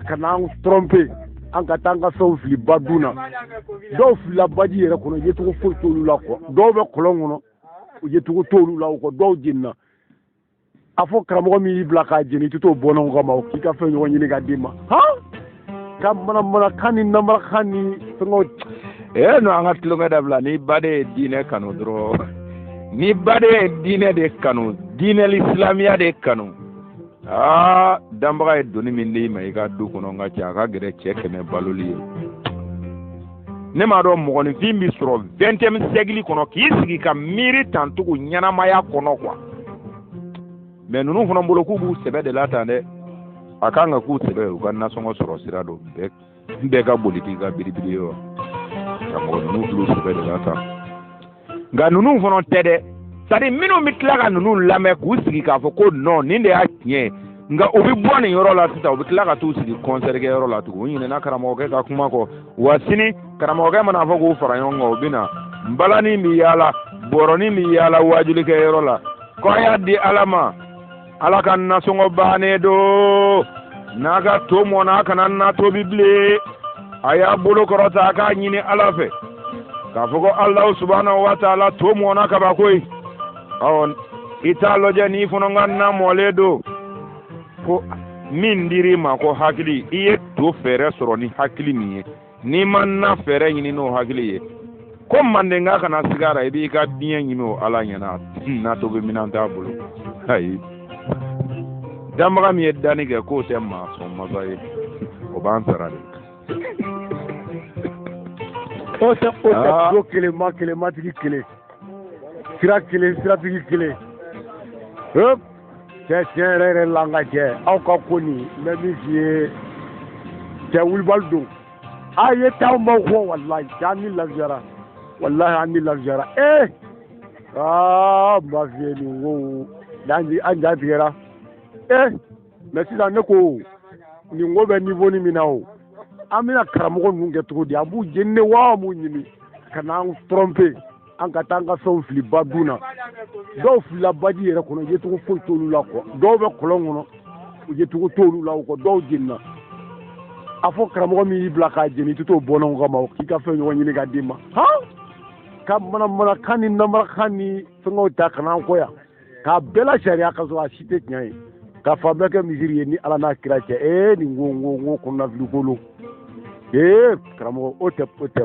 ka na an trompe an ka taa an ka fɛnw fili ba dun na dɔw filila baji yɛrɛ kɔnɔ yecogo foyi t'olu la kuwa dɔw bɛ kɔlɔn kɔnɔ yecogo t'olu la o kɔ dɔw jenina a fɔ karamɔgɔ min y'i bila k'a jeni i tɛ t'o bɔnnaw kama o k'i ka fɛn ɲɔgɔn ɲini ka d'i ma han ka manamanakan ni namarakan ni fɛngɛw ee no an ka tulonkɛ dabila ni baden ye diinɛ kanu dɔrɔn ni baden ye diinɛ de kanu diinɛ silamɛya de kanu aa danbaga ye doni min d'i ma i ka du kɔnɔ n ka cɛ a ka gɛlɛn cɛ kɛmɛ baloli ye ne m'a dɔn mɔgɔninfin bɛ sɔrɔ vɛntɛmi sɛgili kɔnɔ k'i sigi ka miiri tan tugun ɲɛnamaya kɔnɔ kuwa mɛ ninnu fana bolo k'u b'u sɛbɛ de la tan dɛ a kan ka k'u sɛbɛ u ka nasɔngɔ sɔrɔ sira don bɛɛ n bɛɛ ka boli t'i ka biribiri ye wa karamɔgɔ ninnu fil'u sɛbɛ de la tan nka ninnu fana tɛ dɛ sɛtadiri minnu bɛ tila ka ninnu lamɛn k'u sigi k'a fɔ ko nɔn nin de y'a tiɲɛ nka u bɛ bɔ nin yɔrɔ la sisan u bɛ tila ka t'u sigi kɔnsɛri kɛ yɔrɔ la tugun u ɲinɛna karamɔgɔkɛ ka kuma kɔ wa sini karamɔgɔkɛ man'a fɔ k'u fara ɲɔgɔn kan u bɛ na nbalanin bɛ yaala bɔrɔnin bɛ yaala waajulikɛ yɔrɔ la ko a y'a di ala ma ala ka nasɔngɔ bannen don n'a ka to mɔna a kana na tobi bilen a y'a bolo kɔrɔta a k'a ɲini ala fɛ k'a fɔ ko alahu subahanahu wa taala to mɔna kaba koyi ɔ i t'a lajɛ n'i fana ka na mɔlen don ko min dir'i ma ko hakili i ye to fɛɛrɛ sɔrɔ ni hakili min ye n'i ma na fɛɛrɛ ɲini n'o hakili ye ko mandenka kana sig'a ra i b'i ka diɲɛ ɲini o ala ɲɛna na tobi minan t'a bolo ayi danbaga min ye danni kɛ k'o tɛ maa sɔn masa ye o b'an sara de o tɛ o tɛ ah. ko kelen ma kelen matigi kelen sira kelen siratigi kelen cɛ tiɲɛ yɛrɛ yɛrɛ la an ka jɛ aw ka ko nin n bɛ min f'i ye cɛ wulibali don a ye taa anw b'aw kɔ walayi an ni lafiyara walayi an ni lafiyara ee aa n b'a f'i ye nin ko an ja tigɛra ee mɛ sisan ne ko nin ko bɛ niwo ni min na o an bɛna karamɔgɔ ninnu kɛ cogo di an b'u jeni de wa an b'u ɲini ka n'an trɔnpe an ka taa an ka fɛnw fili ba dun na dɔw filila baji yɛrɛ kɔnɔ yecogo foyi t'olu la kuwa dɔw bɛ kɔlɔn kɔnɔ yecogo t'olu la o kɔ dɔw jenina a fɔ karamɔgɔ min y'i bila k'a jeni i tɛ t'o bɔnnaw kama o k'i ka fɛn ɲɔgɔn ɲini ka d'i ma han ka manamanakan ni namarakan ni fɛngɛw ta ka n'an kɔ yan k'a bɛɛ la sariya ka sɔrɔ a si tɛ tiɲɛ ye ka fan bɛɛ kɛ misiri ye ni ala n'a kira cɛ ee nin ko n ko n ko kɔnɔnafili ko lo ee karamɔgɔ o tɛ o tɛ